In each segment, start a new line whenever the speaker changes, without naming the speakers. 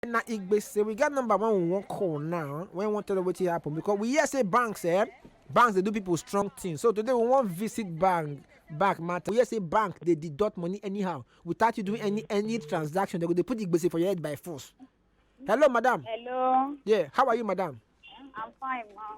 na igbe say we get number one we wan call now wey wan tell us wetin happen because we hear say banks eh banks dey do people strong thing so today we wan visit bank bank matter we hear say bank dey deduct money anyhow without you doing any any transaction they go dey put the gbese for your head by force hello madam Hello, yeah how are you madam I'm fine, mom.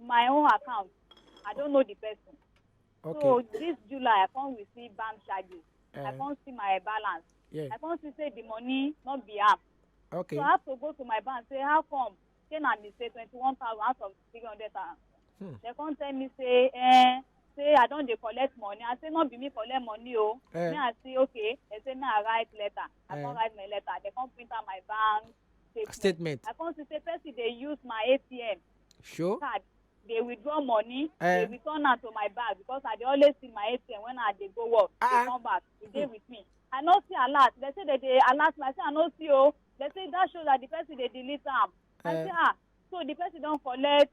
my own account. I don't know the person. Okay. So this July, I can't receive bank charges. Uh, I eh. can't see my balance. Yeah. I can't see say the money not be up. Okay. So I have to go to my bank say how come ten and me say twenty one thousand out of three hundred thousand. Hmm. They can't tell me say eh say I don't dey collect money. I say not be me collect money oh. Eh. Me I say okay. They say me I write letter. I eh. can't write my letter. They can't print out my bank statement i come see say person dey use my atm sure. card dey withdraw money Eh. dey return am to my bag because i dey always see my atm when i dey go work Ah. dey come back e dey with me i no see alert dem say dem dey alert me i say i no see o dem say that show that the person dey delete am i Eh. say ah so the person don collect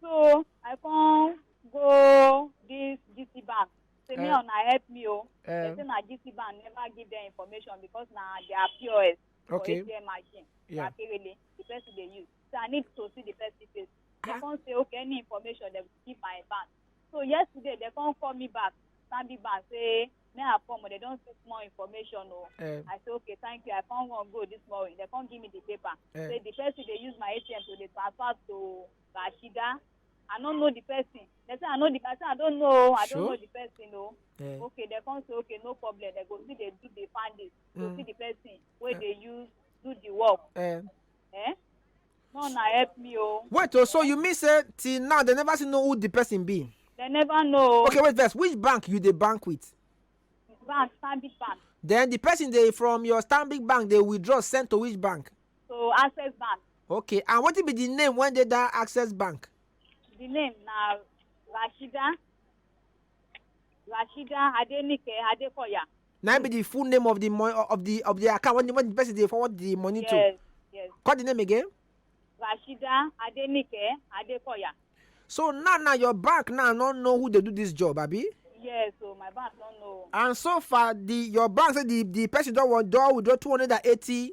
so i come go this gt bank say me Eh. una help me o Eh. dem say na gt bank never give them information because na their pos for Okay. atm machine Yeah. na kerele the person dey use so i need to see the person face dem come say okay any information dem give my bank so yesterday dem come call me back stanbic bank say me i come but they don see small information o Eh. i say okay thank you i come wan go this morning they come give me the paper Eh. say the person dey use my atm to dey transfer to rashida i no know the person they say i know the i say i don't know o, i Sure. don't know the person o Eh. okay they come say okay no problem they go still dey do the findings to Mm. see the person wey Eh. dey use do the work Eh. Eh? No, na help me oh. wait o so you mean say till now dem never still know who the person be They never know. okay wait first which bank you dey bank with Bank, Stanbic Bank. then the person dey from your stanbic bank dey withdraw send to which bank So Access Bank. okay and wetin be the name wey dey that access bank The name na Rashida. Rashida Adenike Adekoya. na im be the full name of the money of the of the account when the, when the person dey forward the money to Yes, yes. call the name again Rashida Adenike Adekoya. so now now your bank now no know who dey do this job abi Yes, so my bank don't know. and so far the your bank say the the person don wan don withdraw two hundred and eighty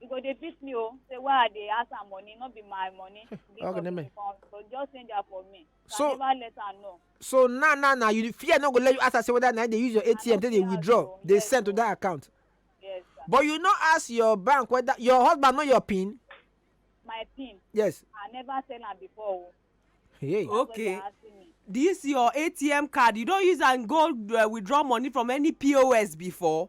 you go dey beat me oh. say why i dey ask am money no be my money because okay, he come so just send am for me so, so i never let am know. so now now now you fear no go let you ask am say whether na dey use your atm take dey withdraw dey yes, send to that account. yes sir. but you no ask your bank whether your husband know your pin. my pin. yes. i never tell am before o. Oh. Hey. okay this your atm card you don use am go uh, withdraw money from any pos before.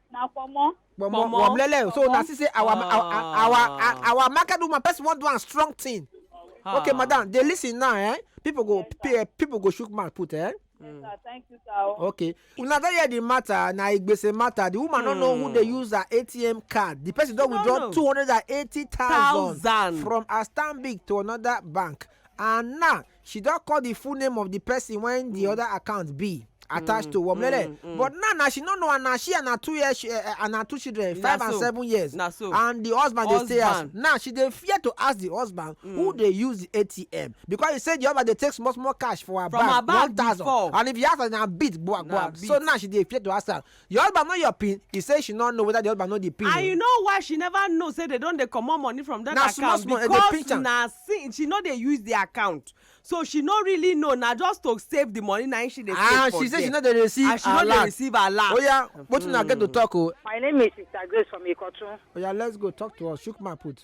na kpomo Kpomo. Kpomo. Womlele. So Kpomo. na see say our our Ah. our our, our market woman person wan do am strong thing. Ah. Okay, madam, dey listen now, eh? People go pe- eh, people go shook mouth put, eh? sir thank you sir o. Okay. Una don hear the matter, na igbese matter. The woman no know who dey use her ATM card. The person don No, withdraw no. two hundred and eighty thousand Thousand. from her Stanbic to another bank. And now she don call the full name of the person when the mm. other account be attached mm, to womlele mm, mm. but now na she no know and na she and her two years uh, eh, eh, and her two children five and seven years na so and the husband dey stay house now she dey fear to ask the husband mm. who dey use the atm because he say the husband dey take small small cash for her From bag one thousand and if he ask her na beat gbua gbua so now she dey fear to ask her Di husband know your pin, e say she no know weda di husband know di pin o. And you know why she never know say dem don dey comot money from dat account? Na small small dem dey pinch am. Because na since she no dey use di account so she no really know na just to save di money na im she dey save for there. And she say she no dey receive alert. And she no dey receive alert. Oya wetin una get to talk o? My name is Sister Grace from Ikotun. Oya let's go talk to us, chook mouth put.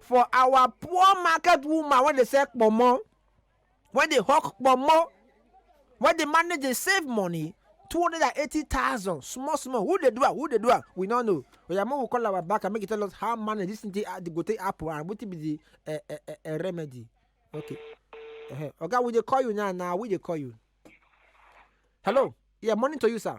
for our poor market woman wey dey sell kpomo wey dey hawk kpomo wey dey manage dey save money two hundred and eighty thousand small small who dey do am who dey do am we no know oya make we call our back and make e tell us how manage this thing take ah, go take happen and wetin be the uh, uh, uh, uh, remedy okay uh-huh. oga we dey call you now now we dey call you hello yeah morning to you sir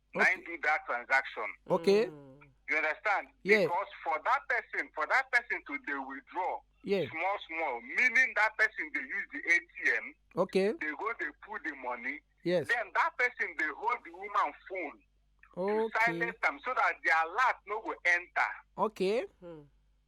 na him do that transaction okay Mm. you understand Yeah. because for that person for that person to dey withdraw yeah small small meaning that person dey use the atm okay dey go dey pull the money yes then that person dey hold the woman phone to okay silence am so that the alert no go enter okay Mm.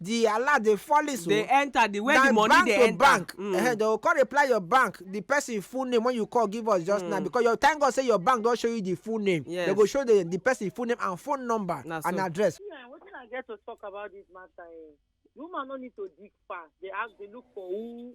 the alert dey fall so dey enter the way the money dey enter bank mm. uh, they go come reply your bank the person full name when you call give us just mm. now because your thank God say your bank don show you the full name yes. they go show the the person full name and phone number Na and so. address. Yeah, wetin I get to talk about this matter eh woman no need to dig fast dey ask dey look for who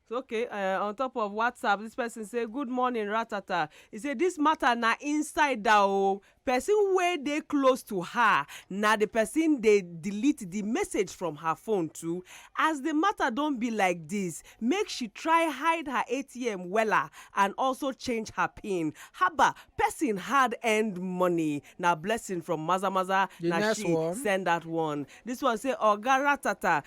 okay uh, on top of whatsapp this person say good morning ratata he say this matter na inside da o person wey dey close to her na the person dey delete the message from her phone too as the matter don be like this make she try hide her atm wella and also change her pin haba person hard earned money na blessing from maza maza The na next she one. send that one this one say oga ratata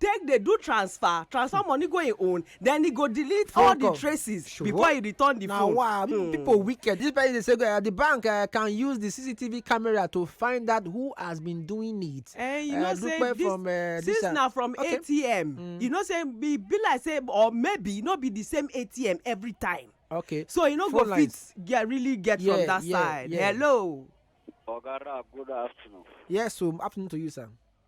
take dey do transfer transfer money go im own then he go delete all the traces sure. before he return the phone. na wa hmm. people wicked this person dey say uh, the bank uh, can use the cctv camera to find out who has been doing it. Uh, you uh, know say this from, uh, since na from okay. atm mm. you know say be be like say or maybe e no be the same atm every time. okay so e no go lines. fit get really get yeah, from that yeah, side. Yeah. hello. oga rap good afternoon. yes so afternoon to you sir.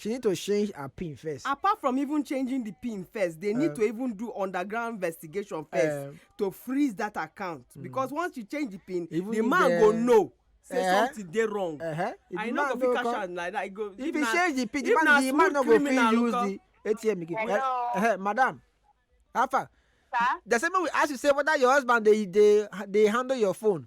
she need to change her pin first. apart from even changing the pin first they need uh, to even do underground investigation first uh, to freeze that account mm. because once you change the pin the man the, go know say uh, something dey wrong uh -huh. i no go fit cash am like that i go if, if you change the pin the man the man no go fit use the atm again hello uh, uh, madam how far sir they say make we ask you say whether your husband dey dey dey handle your phone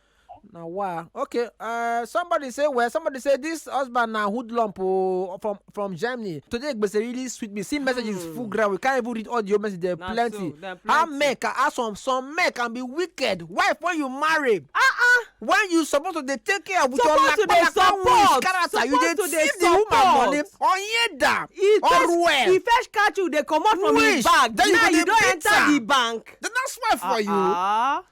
na wa okay uh, somebody say well somebody say this husband na hoodlump oh, from from germany today gbese really sweet me see messages mm. full ground we can't even read all the old messages there na plenty. So, plenty how men can ask some some men can be wicked wife when you marry. ah ah when you suppose to dey take care with your lakpalakpa woman character you dey thief the woman money onyeda oruwe. he first catch you dey comot from his bag now you don enter the bank. then that's why for uh -uh. you. Ah, ah.